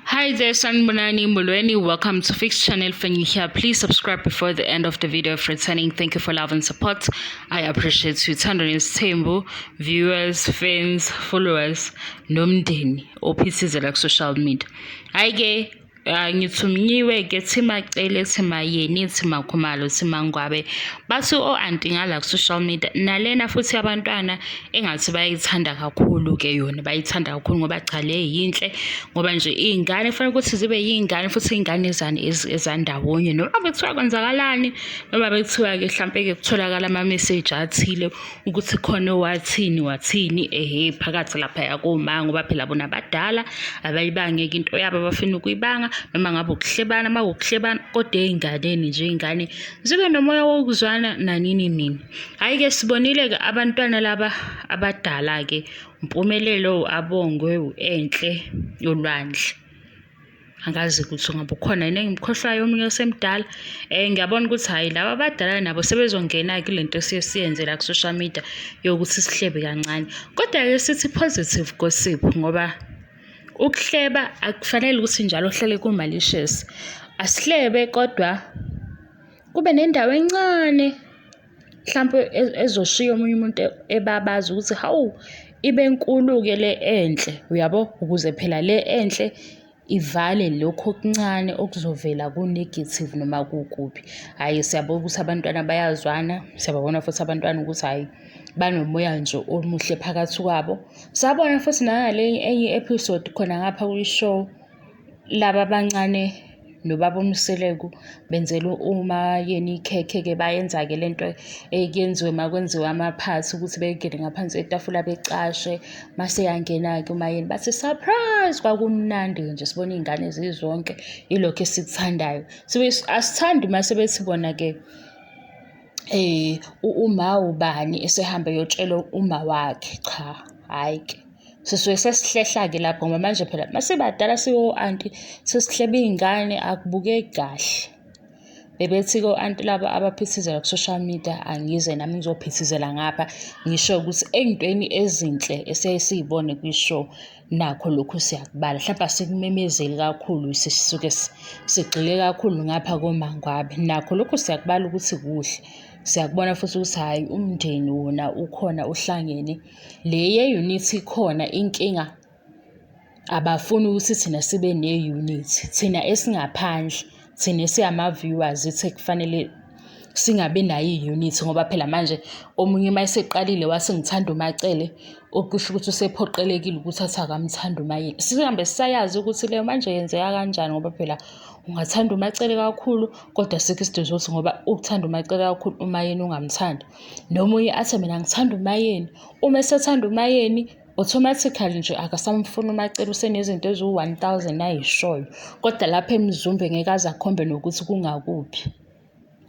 Hi there, Sanbonani Mulweni. Welcome to Fixed Channel Fanyuhia. Please subscribe before the end of the video if returning. Thank you for love and support. I appreciate you. Tandon's Tembo, viewers, fans, followers, nomndeni, ophithizela social media. Hi, gay. Ah, ngithumnyiwe ke thimacele thimayeni thimakhumalo thimangwabe bathi o-anti ngala ku-social media nalena futhi abantwana engathi bayayithanda kakhulu-ke yona bayithanda kakhulu ngoba cha le yinhle ngoba nje iy'ngane kufanele ukuthi zibe yiy'ngane futhi iy'ngane ezani ezandawonye noma bekuthiwa kwenzakalani noma bekuthiwa-ke hlampe-ke kutholakala ama-message athile ukuthi khona owathini wathini ehe phakathi laphaya koma ngoba phela bona abadala abayibangeki into yabo abafuna ukuyibanga noma ngabe ukuhlebana uma ukuhlebana kodwa ey'nganeni nje iy'ngane zibe nomoya wokuzwana nanini nini Hhayi-ke sibonile-ke abantwana laba abadala-ke uMpumelelo, u-Abongwe, u-Enhle, uLwandle. Angazi ukuthi ngabe ukhona yini engimkhohlwayo omunye osemdala. Eh ngiyabona ukuthi hhayi laba abadala nabo sebezongena kule nto esiye siyenze la ku-social media yokuthi sihlebe kancane. Kodwa-ke sithi positive gossip ngoba ukuhleba akufanele ukuthi njalo uhlale kumalicious. Asihlebe kodwa Kube nendawo encane mhlampe e-, ezoshiya omunye umuntu e-, ebabaza ukuthi hawu ibe nkulu-ke le enhle uyabo ukuze phela le enhle ivale lokhu okuncane okuzovela ku-negative noma kukuphi hhayi siyabona ukuthi abantwana bayazwana siyababona futhi abantwana ukuthi hhayi banomoya nje omuhle phakathi kwabo sabona futhi nangale enye i-episode khona ngapha kwi-show Laba abancane nobaba uMseleku benzelwe umayeni ikhekhe-ke bayenza-ke le nto ekuyenziwe uma kwenziwa amaphathi ukuthi bengene ngaphansi kwetafula becashe. Uma seyangena-ke umayeni bathi surprise! Kwakumnandi-ke nje sibona iy'ngane zizonke, ilokho esikuthandayo. Sibuye asithandi uma sebethi bona-ke uma ubani esehambe eyotshela uma wakhe, cha, hhayi-ke. sisuke sesihlehla-ke lapho ngoba manje phela masibadala siwo-anti sesihleba iy'ngane akubukeki kahle bebethi-ke o-anti laba abaphithizela ku-social media angize nami ngizophithizela ngapha ngisho ukuthi ey'ntweni ezinhle esiyaye siy'bone kwi-show nakho lokhu siyakubala mhlawumpe asikumemezeli kakhulu sisuke sigxile kakhulu ngapha komangwabe nakho lokhu siyakubala ukuthi kuhle siyakubona futhi ukuthi hhayi umndeni wona ukhona uhlangene. Le ye-unit ikhona inkinga abafuni ukuthi thina sibe ne-unit. Thina esingaphandle, thina esingama-viewers yithi ekufanele singabi nayo i-unit ngoba phela manje omunye uma eseqalile wathi ngithanda uMaCele, okusho ukuthi usephoqelekile ukuthi athi akamthandi uMaYeni. Sihambe sisayazi ukuthi leyo manje yenzeka kanjani ngoba phela ungathanda uMaCele kakhulu kodwa asikho isidingo sokuthi ngoba ukuthanda uMaCele kakhulu uMaYeni ungamthandi. Nomunye athi mina ngithanda uMayeni. Uma esethanda uMayeni automatically nje akasamfuni uMacele usenezinto eziwu-one thousand ayishoyo. Kodwa lapha eMzumbe ngeke aze akhombe nokuthi kungakuphi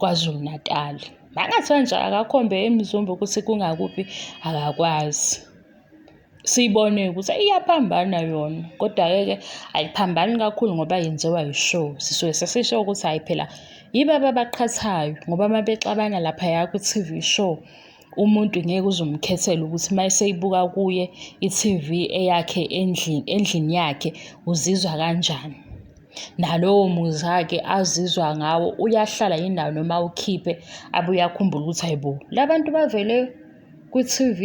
KwaZulu-Natali. Makungathiwa nje akakhombe eMzumbe ukuthi kungakuphi akakwazi. siyibone ukuthi iyaphambana yona kodwa-ke ke ayiphambani kakhulu ngoba yenziwa yi-show sisuke sesisho ukuthi hhayi phela yibaba abaqhathayo ngoba uma bexabana laphaya kwi-T_V show umuntu ngeke uze umkhethele ukuthi uma eseyibuka kuye i-T_V eyakhe endlini endlini yakhe uzizwa kanjani. Nalowo muzwa-ke azizwa ngawo uyahlala yini nawo noma awukhiphe abuye akhumbule ukuthi hhayi bo la bantu bavele. kwi-T_V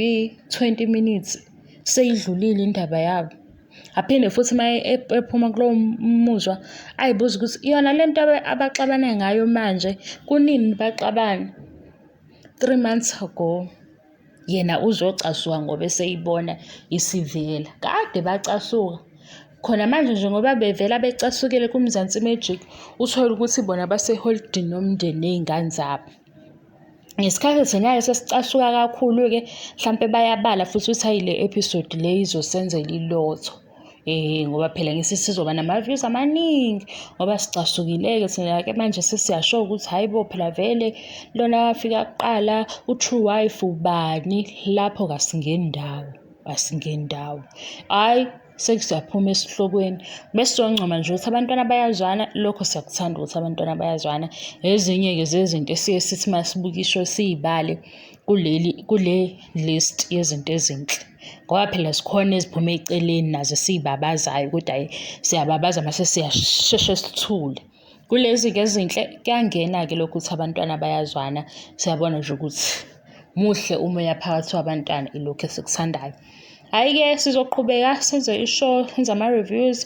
twenty minutes seyidlulile indaba yabo. Aphinde futhi uma ephuma kulowo muzwa ay'buze ukuthi yona le nto abaxabana ngayo manje kunini baxabana? Three months ago. Yena uzocasuka ngoba eseyibona isivela. Kade bacasuka. Khona manje nje ngoba bevela becasukile kuMzansi Magic, uthole ukuthi bona baseholidini nomndeni nezingane zabo. Ngesikhathi thina sesicasuka kakhulu-ke mhlampe bayabala futhi ukuthi hhayi le episode le izosenzela ilotho. Ngoba phela ngithi sizoba nama-views amaningi ngoba sicasukile-ke thina-ke manje sesiyasho-ke ukuthi hhayi bo phela vele lona owafika kuqala u-true wife ubani, lapho kasingeni ndawo, asingeni ndawo, hhayi. sekusiyaphuma esihlokweni bese siyoncoma nje ukuthi abantwana bayazwana lokho siyakuthanda ukuthi abantwana bayazwana ezinye-ke zezinto esiye sithi uma sibukisho siyibale kuleli kule list yezinto ezinhle ngoba phela zikhona eziphume eceleni nazo esiyibabazayo ukuthi hhayi siyababaza mase siyasheshe sithule. Kulezi-ke ezinhle kuyangena-ke lokhu ukuthi abantwana bayazwana, siyabona nje ukuthi muhle umoya phakathi kwabantwana ilokhu esikuthandayo. Hhayi-ke sizoqhubeka senze ishow, senze ama-reviews,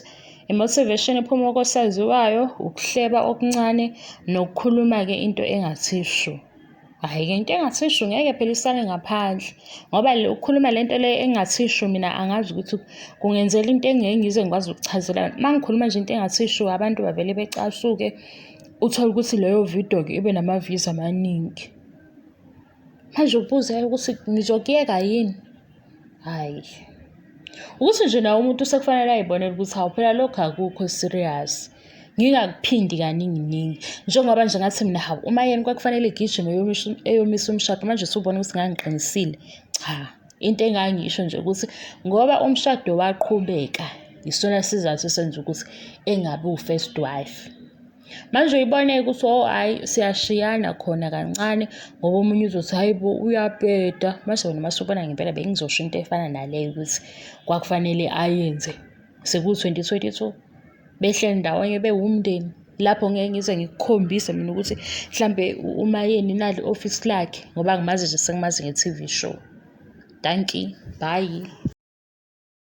i-motivation ephuma kosaziwayo, ukuhleba okuncane nokukhuluma-ke into engathi shu. Hhayi-ke into engathi shu ngeke phela isale ngaphandle ngoba le ukukhuluma le nto le engathi shu mina angazi ukuthi kungenzela into engeke ngize ngikwazi ukuchazela uma ngikhuluma nje into engathi shu abantu bavele becasuke uthole ukuthi leyo video-ke ibe nama-views amaningi manje ubuze ukuthi ngizokuyeka yini Hhayi. Ukuthi nje naye umuntu sekufanele ay'bonele ukuthi hawu phela lokhu akukho serious. Ngingakuphindi kaningi ningi. Njengoba nje ngathi mina hawu uMayeni kwakufanele egijime eyomisa umshado manje usubona ukuthi ngangiqinisile. Cha, into engangisho nje ukuthi ngoba umshado waqhubeka yisona sizathu esenza ukuthi engabi wu-first wife. Manje uyibone-ke ukuthi oh hhayi siyashiyana khona kancane ngoba omunye uzothi hhayi bo uyabheda. Mase wena uma usubona ngempela bengizosho into efana naleyo ukuthi kwakufanele ayenze sekuwu-twenty twenty two behleli ndawonye bewumndeni. Lapho ngeke ngize ngikukhombise mina ukuthi mhlampe umayeni nali ofisi lakhe ngoba ngimazi nje sengimazi nge-T_V show. Dankie, bhayi.